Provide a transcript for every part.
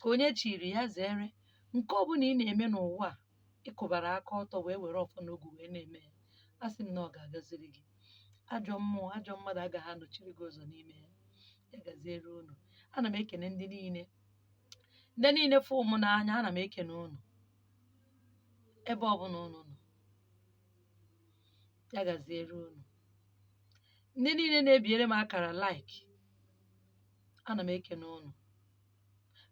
ka onye chiri ya zere nke ọbụla ị na-eme n'ụwa a ị kwụbara aka ọtọ wee were ọfọ n'ogu wee na-eme ya asị m na ọ ga-agaziri gị ajọ mmụọ ajọ mmadụ agaghị anọchiri gị ụzọ n'ime ya ya gaziere unu ana m ekene ndị niile ndị niile fụrụ mụ n'anya ana m ekene unu ebe ọbụla unu nọ ya gaziere unu ndị niile na-ebiere m akara like ana m ekene unu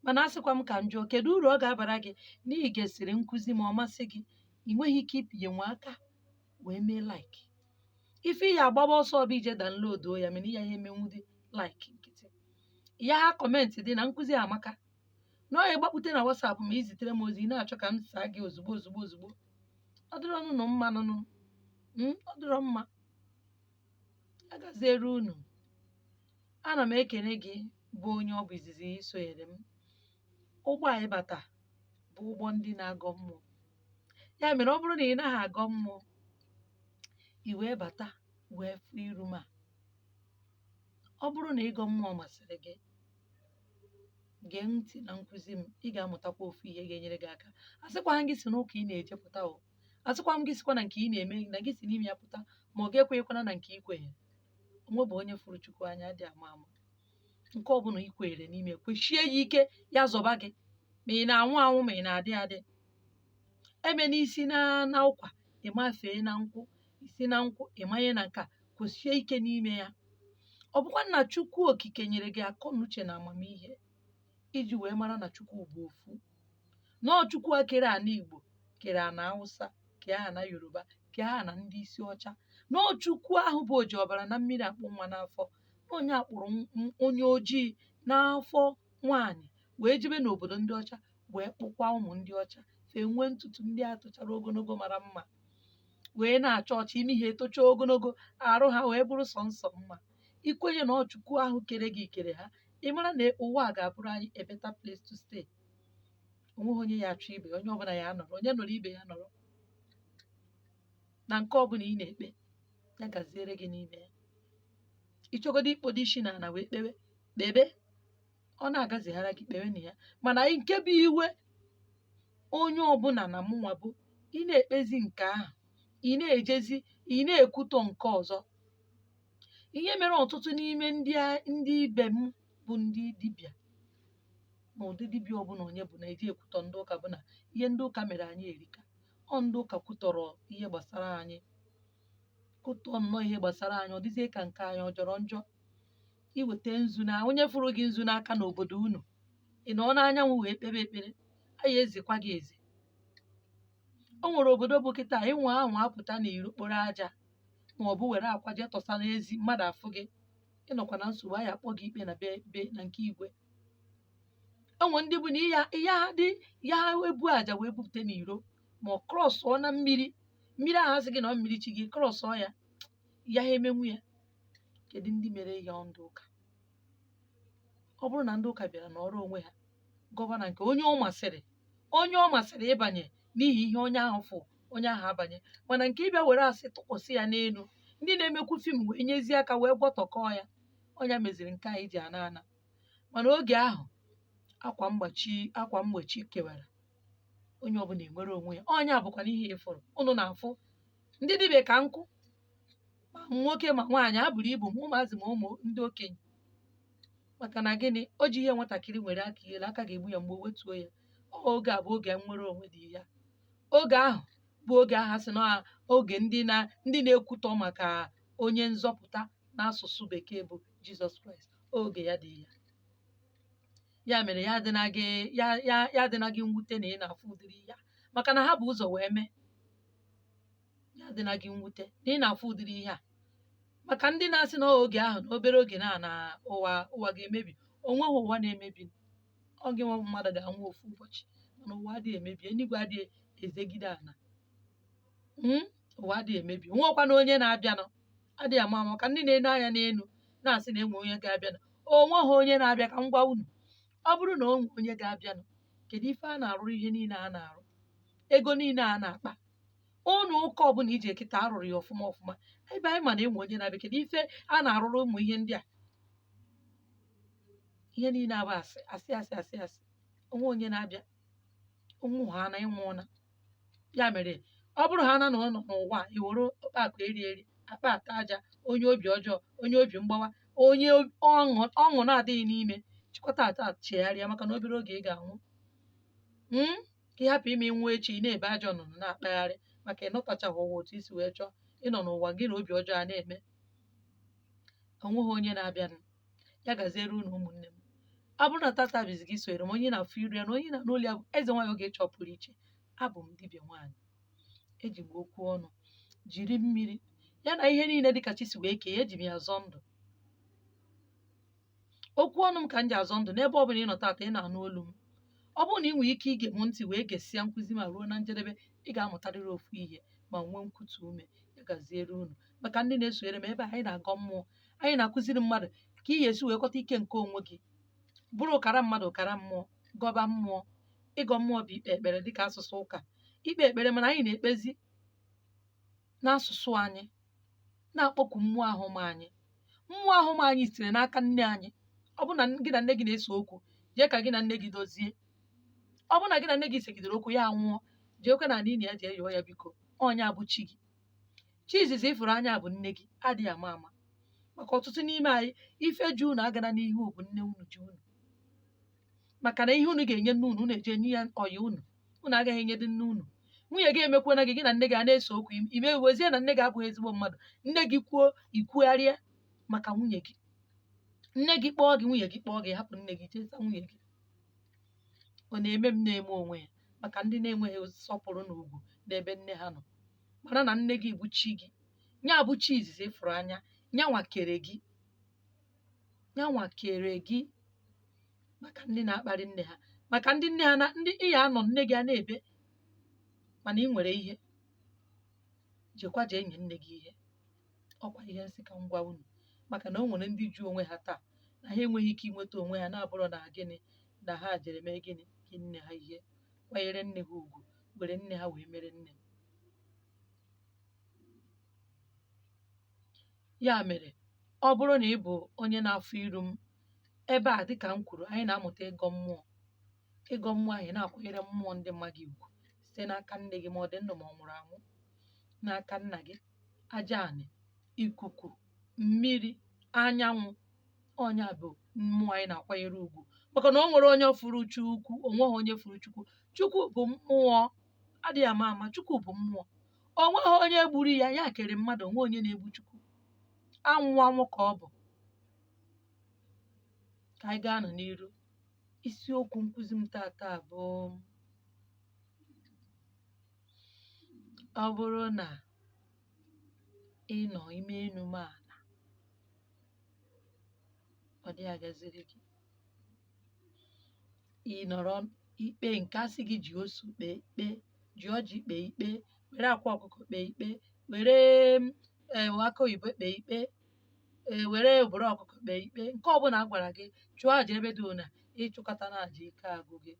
mana asịkwa m ka m jụọ kedu uru ọ ga-abara gị na i gesịrị nkụzi ma ọ masị gị i nweghị ike ịpịnye nwa aka wee mee like ife ị ya-agbaba ọsọ bụ ije downloaduo ya mana ị yaha emenwudị like nkịtị ị yaha comment dị na nkụzi amaka na ọ ya gbakpute na WhatsApp ma i zitere m ozi ị na-achọ ka m saa gị ozugbo ozugbo ozugbo ọ dịrọ nụ mma nụnụ Mm, ọ dịrọ mma ya gaziere unu ana m ekene gị bụ onye ọ bụ izizi i sonyere m ụgbọ a ị bata bụ ụgbọ ndị na-agọ mmụọ ya mere ọ bụrụ na ị naghị agọ mmụọ i wee bata wee fụ iru m a ọ bụrụ na ịgọ mmụọ masịrị gị gee ntị na nkụzi m ị ga-amụtakwa ofu ihe ga-enyere gị aka asịkwaghị m gị si n'ụka ị na-eje pụta o asịkwa m gị sikwa na nke ị na-eme na gị si n'ime ya pụta ma ọ gị ekwenyekwana na nke i kwenyere onwebe onye fụrụ chukwu anya dị ama ama nke ọbụla i kweere n'ime kwesie ya ike ya zọba gị ma ị na-anwụ anwụ ma ị na-adị adị emena i si na ụkwa ị mafee na nkwụ i si na nkwụ ị manye na nka kwesie ike n'ime ya ọ bụkwa na chukwu okike nyere gị akọ na uche na amamihe iji wee mara na chukwu bụ ofu na ọ chukwu a kere ana igbo kere ana hausa kee ana yoruba kee ana ndị isi ọcha na ọ chukwu ahụ bụ oji ọbara na mmiri akpụ nwa n'afọ na onye a kpụrụ m- m- onye ojii n'afọ nwaanyị wee jebe n'obodo ndị ọcha wee kpụkwa ụmụ ndị ọcha fa enwee ntutu ndị a tochara ogologo mara mma wee na-acha ọcha imi ha etocha ogologo arụ ha wee bụrụ sọnsọ mma i kwenye na ọ chukwu ahụ kere gị kere ha ị mara na ụwa a ga-abụrụ anyị a better place to stay onweghị onye ya-achụ ibe onye ọbụla ya nọrọ onye nọrọ ibe ya nọrọ na nke ọbụla ị na-ekpe ya gaziere gị n'ime ya ị chọgodo ikpodo isi na ala wee kpewe kpebe ọ na-agazihara gị kpewe na ya mana nke bụ iwe onye ọbụla na mụnwa bụ ị na-ekpezi nke ahụ ị na-ejezi ị na-ekwutọ nke ọzọ ihe mere ọtụtụ n'ime ndị a ndị ibe m bụ ndị dibịa na ụdị dibịa ọbụla onye bụ na-eji ekwutọ ndị ụka bụ na ihe ndị ụka mere anyị erika ọ ndị ụka kwutọrọ ihe gbasara anyị kwutọọ nnọọ ihe gbasara anyị ọ dịzie ka nke anyị ọ jọrọ njọ i weta nzu na onye fụrụ gị nzu n'aka n'obodo unu ị nọ n'anyanwụ wee kpebe ekpere a ya-ezekwa gị eze o nwere obodo bụ kịta ịnwa ahụ apụta na iro kporo aja ma ọ bụ were akwa jee tọsa n'ezi mmadụ afụ gị ị nọkwa na nsogbu a ya-akpọ gị ikpe na be be na nke igwe o nwere ndị bụ na ya ya dị ya ebu aja wee bupụta n'iro ma ọ krọsụọ na mmiri mmiri ahụ a sị gị na ọ mmiri chi gị krọsụọ ya ya ha emenwu ya kedu ndị mere ya ndị ụka ọ bụrụ na ndị ụka bịara nọrọ onwe ha gọva na nke onye ọ masịrị onye ọ masịrị ịbanye n'ihi ihe onye ahụ fụ onye ahụ abanye mana nke ịbịa were asị tụkwasị ya n'elu ndị na-emekwu fim wee nyezie aka wee gwọtọkọọ ya ọ nya meziri nke anyị ji ana ana mana oge ahụ akwa mgbachi akwa mgbochi kewara onye ọbụla enwere onwe ya ọ nya bụkwanụ ihe ị fụrụ unu na-afụ ndị dibịa ka nkụ ma nwoke ma nwaanyị ha buru ibu ma ụmụazị ma ụmụ ndị okenye maka na gịnị o ji ihe nwatakịrị welie aka elu aka ga-egbu ya mgbu o wetuo ya ọ oge a bụ oge nnwere onwe dị ya oge ahụ bụ oge a ha sị na oge ndị na ndị na-ekwutọ maka onye nzọpụta n'asụsụ bekee bụ jizọs kraịst oge ya dị ya ya mere ya adịna gị ya ya ya adịna gị mwute na ị na-afụ ụdịrị ihe a maka na ha bu ụzọ wee mee ya adịna gị mwute na ị na-afụ ụdịrị ihe a maka ndị na-asị na oge ahụ na obere oge na na ụwa ụwa ga-emebi o nweghị ụwa na-emebi ọ gị nwa mmadụ ga-anwụ ofu ụbọchị mana ụwa adịghị emebi eluigwe adịghị ezegide ala Mm, ụwa adịghị emebi nwekwana onye na-abịanụ adịghị ma maka ndị na-ene anya n'elu na-asị na e nwe onye ga-abịanụ o nweghị onye na-abịa ka m gwa unu ọ bụrụ na o nwe onye ga-abịanụ kedu ife a na-arụrụ ihe niile a na-arụ ego niile a na-akpa ụlọ ụka ọbụla i je kịta a rụrụ ya ọfụma ọfụma ebe anyị ma na e nwe onye na-abịa kedu ife a na-arụrụ ụmụ ihe ndị a ihe niile a bụ asị asị asị asị asị o nwe onye na-abịa ụmụ ha na ị nwụ ị naa ya mere ọ bụrụ ha na nọ n'ụwa i were akpa akụ eri eri akpa ata aja onye obi ọjọọ onye obi mgbawa onye ob- ọṅụ ọṅụ na-adịghị n'ime chịkọta taa chegharịa maka na obere oge ị ga-anwụ Mm? ka ị hapụ ime nwa echi ị na-ebe ajọ nnụnụ na-akpagharị maka ịnọtachaghị ụwa otu i si wee chọọ ịnọ n'ụwa gị na obi ọjọọ a na-eme o nweghị onye na-abịanụ ya gaziere unu ụmụnne m ọ bụrụ na tata bụ izizi gị sonyere m onye na-afụ iru ya na onye na-anụ olu ya bụ eze nwaanyị ogechi ọpụrụiche abụ m dibịa nwaanyị eji m okwu ọnụ jiri mmiri ya na ihe niile dịka chi si wee kee ya eji m ya azọ ndụ okwu ọnụ m ka m ji azọ ndụ n'ebe ọ bụla ị nọ tata ị na-anụ olu m ọ bụrụ na ị nwere ike ige m ntị wee gesịa nkụzi ma ruo na njedebe ị ga-amụtarịrị ofu ihe ma nwee nkwutu ume ya gaziere unu maka ndị na-esonyere m ebe anyị na-agọ mmụọ anyị na-akụziri mmadụ ka ị ga-esi wee kọta ike nke onwe gị bụrụ ọkara mmadụ ọkara mmụọ gọba mmụọ ịgọ mmụọ bụ ikpe ekpere dịka asụsụ ụka ikpe ekpere mana anyị na-ekpezi n'asụsụ anyị na-akpọku mmụọ ahụ ma anyị mmụọ ahụ ma anyị sitere n'aka nne anyị ọ bụ na gị na nne gị na-ese okwu jee ka gị na nne gị dozie ọ bụ na gị na nne gị segidere okwu ya anwụọ jeekwe n'ala ili ya jee yọọ ya biko ọ nya bụ chi gị chi izizi ị fụrụ anya bụ nne gị adịghị ama ama maka ọtụtụ n'ime anyị ife ji unu agana n'ihu bụ nne unu ji unu maka na ihe unu ga-enye nne unu unu eje nye ya ọyị unu unu agaghị enyedị nne unu nwunye gị emekwana gị gị na nne gị a na-ese okwu im- i mewezie na nne gị abụghị ezigbo mmadụ nne gị kwuo i kwugharịa maka nwunye gị nne gị kpọọ gị nwunye gị kpọọ gị hapụ nne gị jee zaa nwunye gị ọ na-eme m na-eme onwe ya maka ndị na-enweghị nsọpụrụ na ugwu n'ebe nne ha nọ mara na nne gị bụ chi gị nya bụ chi izizi ị fụrụ anya nyanwa kere gị nyanwa kere gị maka ndị na-akparị nne ha maka ndị nne ha na ndị ị ya-anọ nne gị a na-ebe mana ị nwere ihe jekwa jee nye nne gị ihe ọ kwa ihe m sị ka m gwa unu maka na o nwere ndị ji onwe ha taa na ha enweghị ike inweta onwe ha na-abụrọ na gịnị na ha jere mee gịnị nye nne ha ihe kwanyere nne ha ugwu were nne ha wee mere nne ya mere ọ bụrụ na ị bụ onye na-afụ iru m ebe a dịka m kwuru anyị na-amụta ịgọ mmụọ ịgọ mmụọ anyị na-akwanyere mmụọ ndị ma gị ugwu site n'aka nne gị ma ọ dị ndụ ma ọ nwụrụ anwụ n'aka nna gị aja anị ikuku mmiri anyanwụ ọ nya bụ mmụọ anyị na-akwanyere ugwu maka na o nwere onye fụrụ chukwu o nweghị onye fụrụ chukwu chukwu bụ mmụọ adịghị ama ama chukwu bụ mmụọ o nweghị onye gburu ya ya kere mmadụ o nweghị onye na-egbu chukwu anwụ anwụ ka ọ bụ ka anyị gaanụ n'iru isiokwu nkụzi m taata bụ ọ bụrụ na ị nọ ime omenala ọ dị agaziri gị ị nọrọ ikpe nke a sị gị ji nzu kpee ikpe ji ọjị kpee ikpe were akwa ọkụkọ kpee ikpe were ee akụ oyibo kpee ikpe ee were obere ọkụkọ kpee ikpe nke ọbụla a gwara gị chụọ aja ebe dị ona ị chụkatana aja ike agwụ gị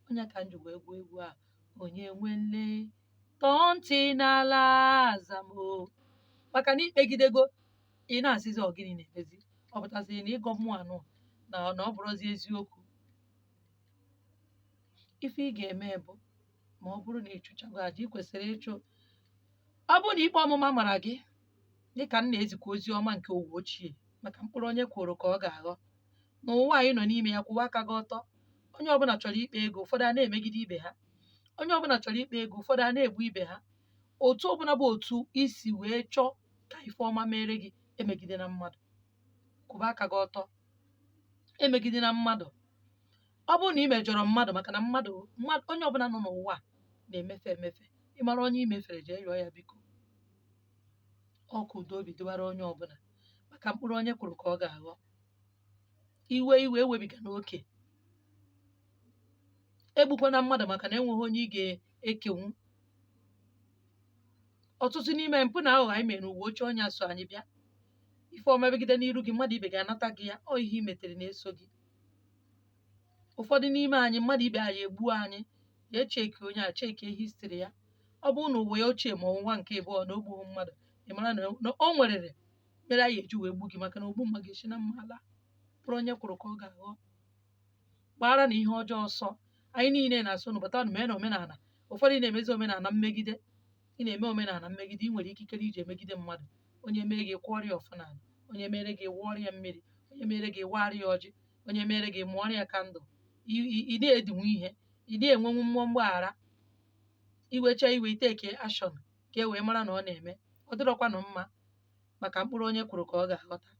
ọ nya ka m ji wee gụọ egwu a onye nwe nne tọọ ntị n'ala azamo maka na i kpegidego ị na-asịzi ọ gịnị na-emezi ọ pụtasịrị na ịgọ mmụọ anụ na na ọ bụrọzi eziokwu ife ị ga-eme bụ ma ọ bụrụ na ị chụchago aja ị kwesịrị ịchụ ọ bụrụ na ikpe ọmụma mara gị dịka m na-ezikwa ozi ọma nke ụwa ochie maka mkpụrụ onye kụrụ ka ọ ga-aghọ n'ụwa anyị nọ n'ime ya kwụba aka gị ọtọ onye ọbụla chọrọ ịkpa ego ụfọdụ a na-emegide ibe ha onye ọbụla chọrọ ịkpa ego ụfọdụ a na-egbu ibe ha otu ọbụla bụ otu i si wee chọọ ka ife ọma mere gị emegidena mmadụ kwụba aka gị ọtọ emegidena mmadụ ọ bụrụ na i mejọrọ mmadụ maka na mmadụ mmadụ onye ọbụla nọ n'ụwa a na-emefe emefe ị mara onye i mefere jee yọọ ya biko ọ ka udo obi dịwara onye ọbụla maka mkpụrụ onye kụrụ ka ọ ga-aghọ i wee iwe ewebigana oke egbukwana mmadụ maka na enweghị onye ị ga-ekenwu ọtụtụ n'ime mpụ na aghụghọ anyị mere ụwa ochie ọ nya so anyị bịa ife ọma megide n'iru gị mmadụ ibe gị anata gị ya ọ ihe i metere na-eso gị ụfọdụ n'ime anyị mmadụ ibe anyị egbuo anyị ya e checkie onye a checkie history ya ọ bụrụ na ụwa ya ochie ma ọ n'ụwa nke ịbụọ na o gbughị mmadụ ị mara na na o nwere ihe mere anyị e ji wee gbu gị maka na ogbu mma ga-esi na mma ala mkpụrụ onye kụrụ ka ọ ga-aghọ gbaaranụ ihe ọjọọ ọsọ anyị niile na-asị nụ bata na omenala ụfọdụ na-emezi omenala mmegide ị na-eme omenala mmegide ị nwere ikikere iji emegide mmadụ onye mee gị kụọrọ ya ọfọ n'ala onye mere gị wụọrọ ya mmiri onye mere gị waara ya ọjị onye mere gị mụọrọ ya candle I- i- ị na-edinwu ihe ị na-enwenwu mmụọ mgbaghara i wechaa iwe i take action ka e wee mara na ọ na-eme ọ dịrọkwanụ mma maka mkpụrụ onye kụrụ ka ọ ga-aghọta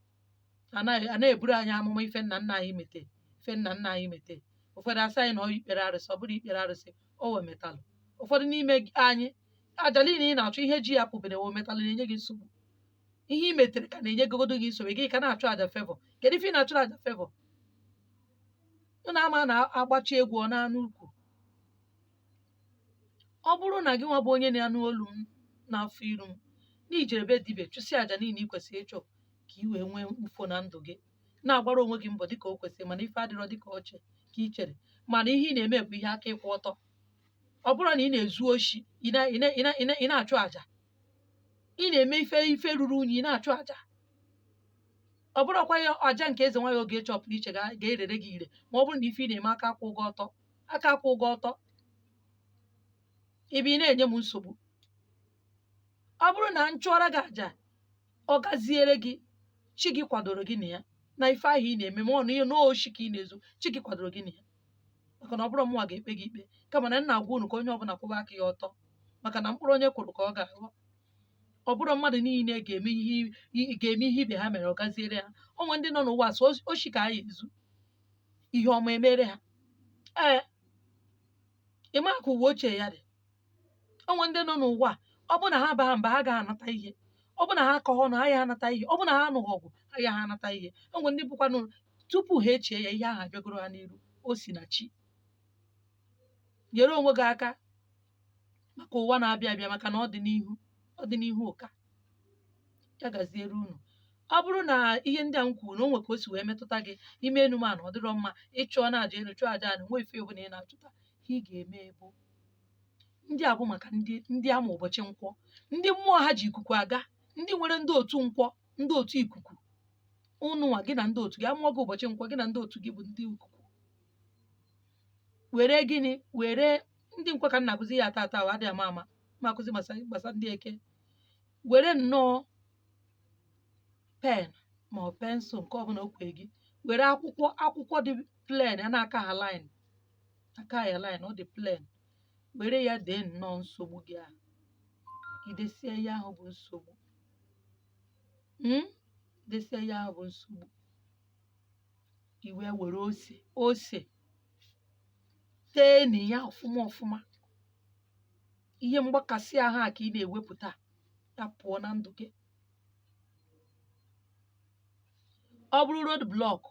a naghị- a na-eburu anyị amụma ife nna nna anyị mete ife nna nna anyị mete ụfọdụ asị anyị na ọ ikpere arụsị ọ bụrụ ikpere arụsị o wee metalụ ụfọdụ n'ime gị- anyị aja niile ị na-achụ ihe ji ya apụberọ metalụ na-enye gị nsogbu ihe i metere ka na-enyegodu gị nsogbu gị ka na-achụ aja fevọ kedu ife ị na-achụrụ aja fevọ ị na-ama na-agbachi egwu ọ na-anụ ukwu ọ bụrụ na gị nwa bụ onye na-anụ olu m na-afụ iru m na i jere be dibịa chụsịa aja niile ị kwesịrị ịchụ ka ị wee nwee mkpufo na ndụ gị na-agbara onwe gị mbọ dịka o kwesịrị mana ife adịrọ dịka o che ka i chere mana ihe ị na-eme bụ ihe aka kwụ ọtọ ọ bụrụ na ị na-ezu oshi ị na- ị na- ị na- ị na- ị na-achụ aja ị na-eme ife ife ruru unyi ị na-achụ aja ọ bụrọkwa ya aja nke eze nwaanyị oge chọpụrụ iche ga- ga-erere gị ire ma ọ bụrụ na ife ị na-eme aka akwụrọ gị ọtọ aka akwụrọ gị ọtọ ebe ị na-enye m nsogbu ọ bụrụ na m chụọra gị aja ọ gaziere gị chi gị kwadoro gị na ya na ife ahụ ị na-eme ma ọ na ihe n'oshi ka ị na-ezu chi gị kwadoro gị na ya maka na ọ bụrọ mụnwa ga-ekpe gị ikpe kama na m na-agwa unu ka onye ọbụla kwụba aka ya ọtọ maka na mkpụrụ onye kụrụ ka ọ ga-aghọ ọ bụrọ mmadụ niile ga-eme ihe i- ga-eme ihe ibe ha mere ọ gaziere ha o nwe ndị nọ n'ụwa sọ oshi ka ha ya-ezu ihe ọma emere ha ee ị ma ka ụwa ochie ya dị o nwere ndị nọ n'ụwa a, ọ bụrụ na ha abaghị mba ha agaghị anata ihe ọ bụrụ na ha akọghị ọnụ ha agaghị anata ihe ọ bụrụ na ha anụghị ọgụ ha agaghị anata ihe o nwere ndị bụkwanụ tupu ha echie ya ihe ahụ abịagoro ha n'iru o si na chi nyere onwe gị aka maka ụwa na-abịa abịa maka na ọdịnihu ọdịnihu ka ya gaziere unu ọ bụrụ na ihe ndị a m kwuru na o nwe ka o si wee metụta gị i mee enu mee ana ọ dịrọ mma ị chụọ na aja elu chụọ aja ana nwe ife ọbụla ị na-achụta ihe ị ga-eme bụ ndị a bụ maka ndị ndị a mụ ụbọchị nkwọ ndị mmụọ ha ji ikuku aga ndị nwere ndị otu nkwọ ndị otu ikuku ụnụnwa gị na ndị otu gị a mụọ gị ụbọchị nkwọ gị na ndị otu gị bụ ndị ikuku were gịnị were ndị nkwọ ka m na-akụzi ya tata ahụ adịghị ama ama m akụzi gbasa gbasa ndị eke were nnọọ pen ma ọ pensụl nke ọbụla o kwee gị were akwụkwọ akwụkwọ dị plen a na-akaghị lin akaghị line ọ dị plen were ya dee nnọọ nsogbu gị ahụ i desie ihe ahụ bụ nsogbu desie ihe ahụ bụ nsogbu i wee were ose ose tee na ya ọfụma ọfụma ihe mgbakasị ahụ a ka ị na-ewepụta ya pụọ na ndụ gị ọ bụrụ road blọk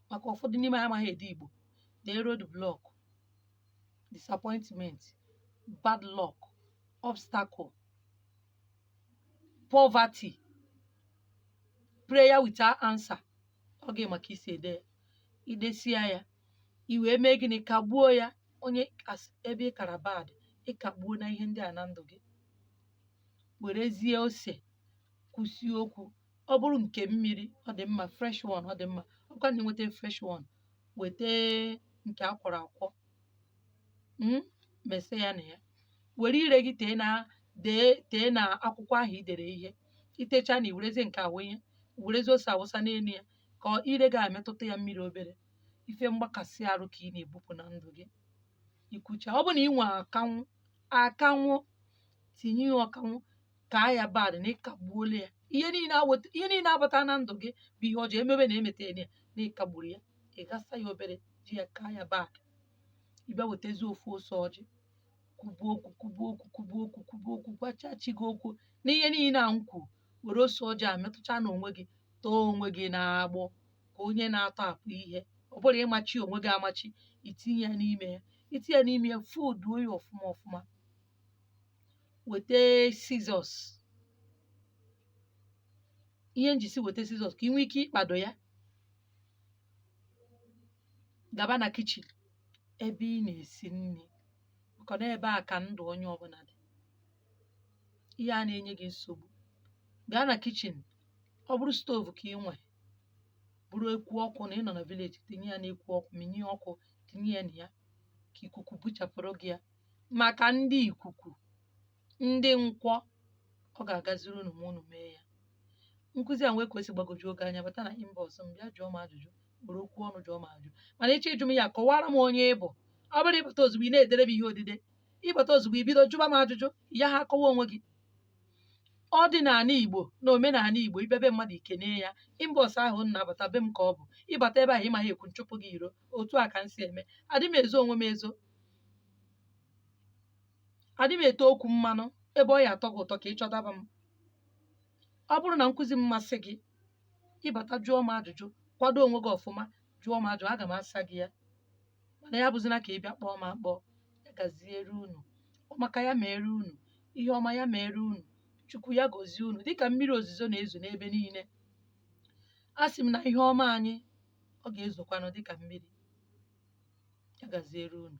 maka ụfọdụ n'ime ha amaghị ede igbo dee road block disappointment bad luck obstacle poverty prayer without answer ọ gị ma ka i si ede ya i desịa ya i wee mee gịnị kagbuo ya onye as- ebe ị kara bad ị kagbuona ihe ndị a na ndụ gị werezie ose kwusie okwu ọ bụrụ nke mmiri ọ dị mma fresh one ọ dị mma ọ bụkwa na i nweta fresh one weta nke a kwọrọ akwọ mm, mese ya na ya were ire gị tee na dee tee na akwụkwọ ahụ i dere ihe i techaana i werezie nke a wụnye werezi ose a wụsa n'elu ya ka ọ- ire gị emetụta ya mmiri obere ife mgbakasị arụ ka ị na-ebupụ na ndụ gị i kwuchaa ọ bụ na i nwe akanwụ akanwụ tinye ya akanwụ kaa ya bad na ị kagbuola ya ihe niile aweta ihe niile abata na ndụ gị bụ ihe ọjọọ emebe na emeta ya na ị kagburu ya ị ghasa ya obere ji ya kaa ya bad ị bịa wetazi ofu ose ọjị kwubuo okwu kwubuo okwu kwubuo okwu kwubuo okwu gwachaa chi gị okwu na ihe niile a m kwuru were ose ọjị a metụcha na onwe gị tọọ onwe gị n'agbụ ka onye na-atọ apụ ihe ọ bụrụ ị machi onwe gị amachi i tinye ya n'ime ya i tinye ya n'ime ya fooduo ya ọfụma ọfụma weta scissors ihe m ji sị weta scissors ka i nwee ike ịkpado ya gaba na kitchen ebe ị na-esi nri maka na ebe a ka ndụ onye ọbụla dị ihe a na-enye gị nsogbu gaa na kitchen ọ bụrụ stove ka i nwe bụrụ ekwu ọkụ na ị nọ na village tinye ya n'ekwu ọkụ minye ọkụ tinye ya na ya ka ikuku buchapụrụ gị ya maka ndị ikuku ndị nkwọ ọ ga-agaziri unu ma unu mee ya nkụzi a nwee ka o si gbagwojuo gị anya bata na inbox m bịa jụọ m ajụjụ were okwu ọnụ jụọ m ajụjụ mana ị chọọ ịjụ m ya kọwara m onye ị bụ ọ bụrọ ị bata ozugbo ị na-edere m ihe odide ị bata ozugbo i bido jụba m ajụjụ ya ha akọwa onwe gị ọdịnala igbo na omenala igbo ị bịa be mmadụ i kene ya inbox ahụ ị na-abata be m ka ọ bụ ị bata ebe ahụ ị maghị ekwu m chụpụ gị iro otu a ka m si eme adị m ezo onwe m ezo adị m ete okwu mmanụ ebe ọ ya-atọ gị ụtọ ka ị chọtaba m ọ bụrụ na nkụzi m masị gị ị bata jụọ m ajụjụ kwado onwe gị ọfụma jụọ m ajụjụ aga m asa gị ya mana ya abụzina ka ị bịa kpọọ m akpọ ya gaziere unu ọmaka ya meere unu ihe ọma ya meere unu chukwu ya gozie unu dịka mmiri ozuzo na-ezo n'ebe niile asị m na ihe ọma anyị ọ ga-ezokwanụ dịka mmiri. Ya gaziere unu.